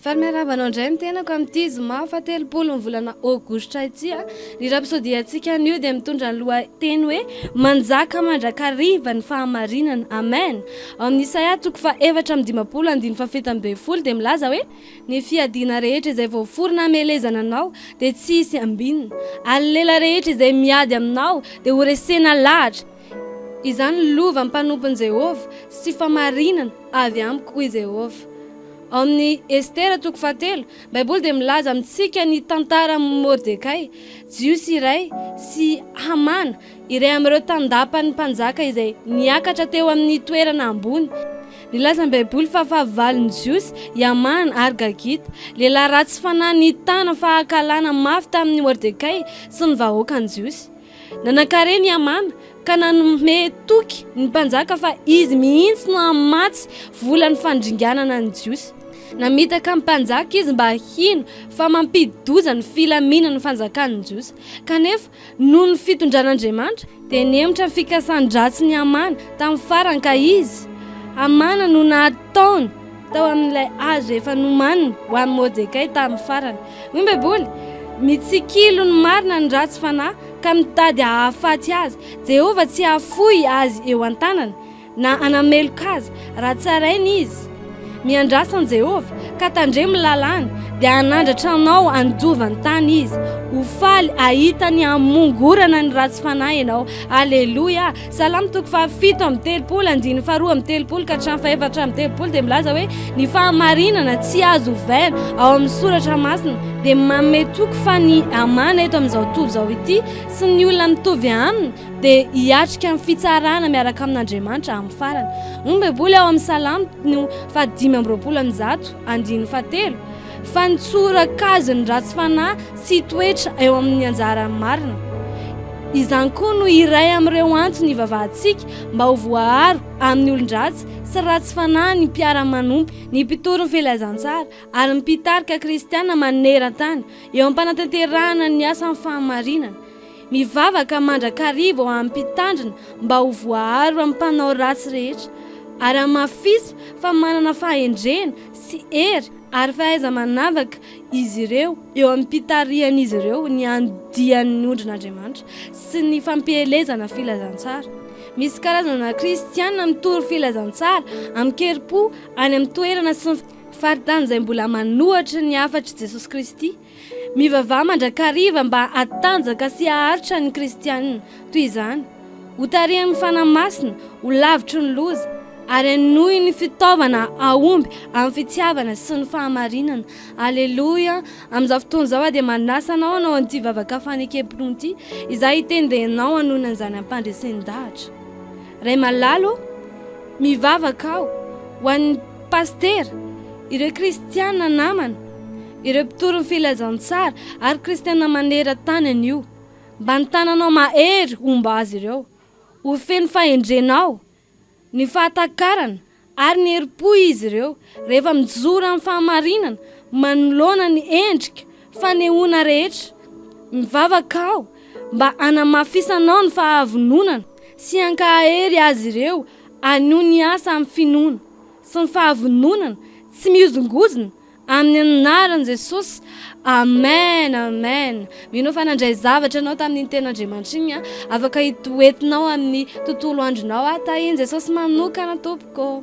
Faly miarahaba anao indray ny tenako amin'ity zoma fahatelopolo ny volana aogositra ity. Ah. Ny rapsodiantsika anio dia mitondra ny lohateny hoe manjaka mandrakariva ny fahamarinana. Amen. Ao amin'ny Isaia toko fa efatra amin'ny dimapolo andin'ny fafita ambe folo dia milaza hoe ny fiadiana rehetra izay voaforona hamelezana anao dia tsy hisy ambinina. Ary ny lela rehetra izay miady aminao dia horesena lahatra. Izany lova mpanompon'i Jehovah sy famarinana avy amiko, hoy Jehovah. Ao amin'ny Estera toko fahatelo, Baiboly dia milaza amintsika ny tantaran'i Mordekay, Jiosy iray, sy Hamana, iray amin'ireo tandapan'ny mpanjaka izay niakatra teo amin'ny toerana ambony. Nilaza ny Baiboly fa fahavalon'ny Jiosy i Hamana ary Gagita, lehilahy ratsy fanahy nitana fahakalana mafy tamin'i Mordekay sy ny vahoakan'ny Jiosy. Nanan-karena i Hamana ka nanome toky ny mpanjaka fa izy mihitsy no hamatsy vola ny fandringanana ny Jiosy. Namitaka ny mpanjaka izy mba hino fa mampidi-doza ny filaminan'ny fanjakan'ny Jiosy. Kanefa, noho ny fitondran'Andriamanitra, dia nihemotra ny fikasan-dratsin'i Hamana tamin'ny farany ka izy, Hamana, no nahatonga taona tao amin'ilay hazo efa nomaniny ho an'i Mordekay tamin'ny farany. Hoy ny Baiboly, Mitsikilo ny marina ny ratsy fanahy, ka mitady hahafaty azy. Jehovah tsy hahafoy azy eo an-tanana, na hanameloka azy, raha tsarainy izy. Miandrasa an'i Jehovah, ka tandremo ny lalàny, dia hanandratra anao handovan-tany izy. Ho faly hahita ny hamongorana ny ratsy fanahy ianao. Aleloia! Salamo toko faha fito amby telopolo andininy faharoa amby telopolo ka hatramin'ny fahefatra amby telopolo dia milaza hoe ny fahamarinana tsy azo ovaina ao amin'ny soratra masina dia manome toky fa ny amana eto amin'izao tontolo izao ity sy ny olona mitovy aminy dia hiatrika amin'ny fitsarana miaraka amin'Andriamanitra amin'ny farany. Hoy ny Baiboly ao amin'ny Salamo no faha dimy amby roapolo amin'ny zato andininy fahatelo. Fa ny tsorak'azy ny ratsy fanahy sy toetra eo amin'ny anjaran'ny marina. Izany koa no iray amin'ireo antony ivavahantsika mba ho voaaro amin'ny olon-dratsy sy ratsy fanahy ny mpiara-manompo, ny mpitory ny filazantsara, ary ny mpitarika kristiana maneran-tany eo am-panatanterahana ny asan'ny fahamarinana. Mivavaka mandrakariva ho an'ny Mpitandrina mba ho voaaro amin'ny mpanao ratsy rehetra, ary hamafisy fa manana fahendrena sy hery ary fahaiza-manavaka izy ireo eo amin'ny mpitarihan'izy ireo ny andian'ny ondrin'Andriamanitra sy ny fampielezana filazantsara. Misy karazana kristiana mitory filazantsara amin-kerim-po any amin'ny toerana sy ny faritany izay mbola manohitra ny hafatr'i Jesosy Kristy. Mivavaha mandrakariva mba hatanjaka sy haharitra ny kristiana toy izany, ho tarihan'ny Fanahy Masina, ho lavitry ny loza, ary hanohy ny fitaovana hahomby amin'ny fitiavana sy ny fahamarinana. Aleloia! Amin'izao fotoana izao aho dia manasa anao hanao an'ity vavaka fanekempinoana ity. Izaho hiteny dia ianao hanohina an'izany ampandresen-dahatra. Ray malala ô, mivavaka aho ho an'ny pasitera, ireo kristiana namana, Ireo mpitory ny filazantsara ary kristiana maneran-tany anio. Mba ny tananao mahery homba azy ireo. Ho feno fahendrenao, ny fahatakarana, ary ny herim-po izy ireo, rehefa mijoro amin'ny fahamarinana manoloana ny endrika fanehoana rehetra. Mivavaka aho mba hanamafisanao ny fahavononana sy hankahery azy ireo hanohy ny asa amin'ny finoana sy ny fahavononana tsy mihozongozona Amin'ny anaran'i Jesosy, Amen, Amen. Mino aho fa nandray zavatra ianao tamin'iny teny Andriamanitra iny an. Afaka hitoetinao amin'ny tontolo andronao aho. Tahin'i Jesosy manokana tompoko.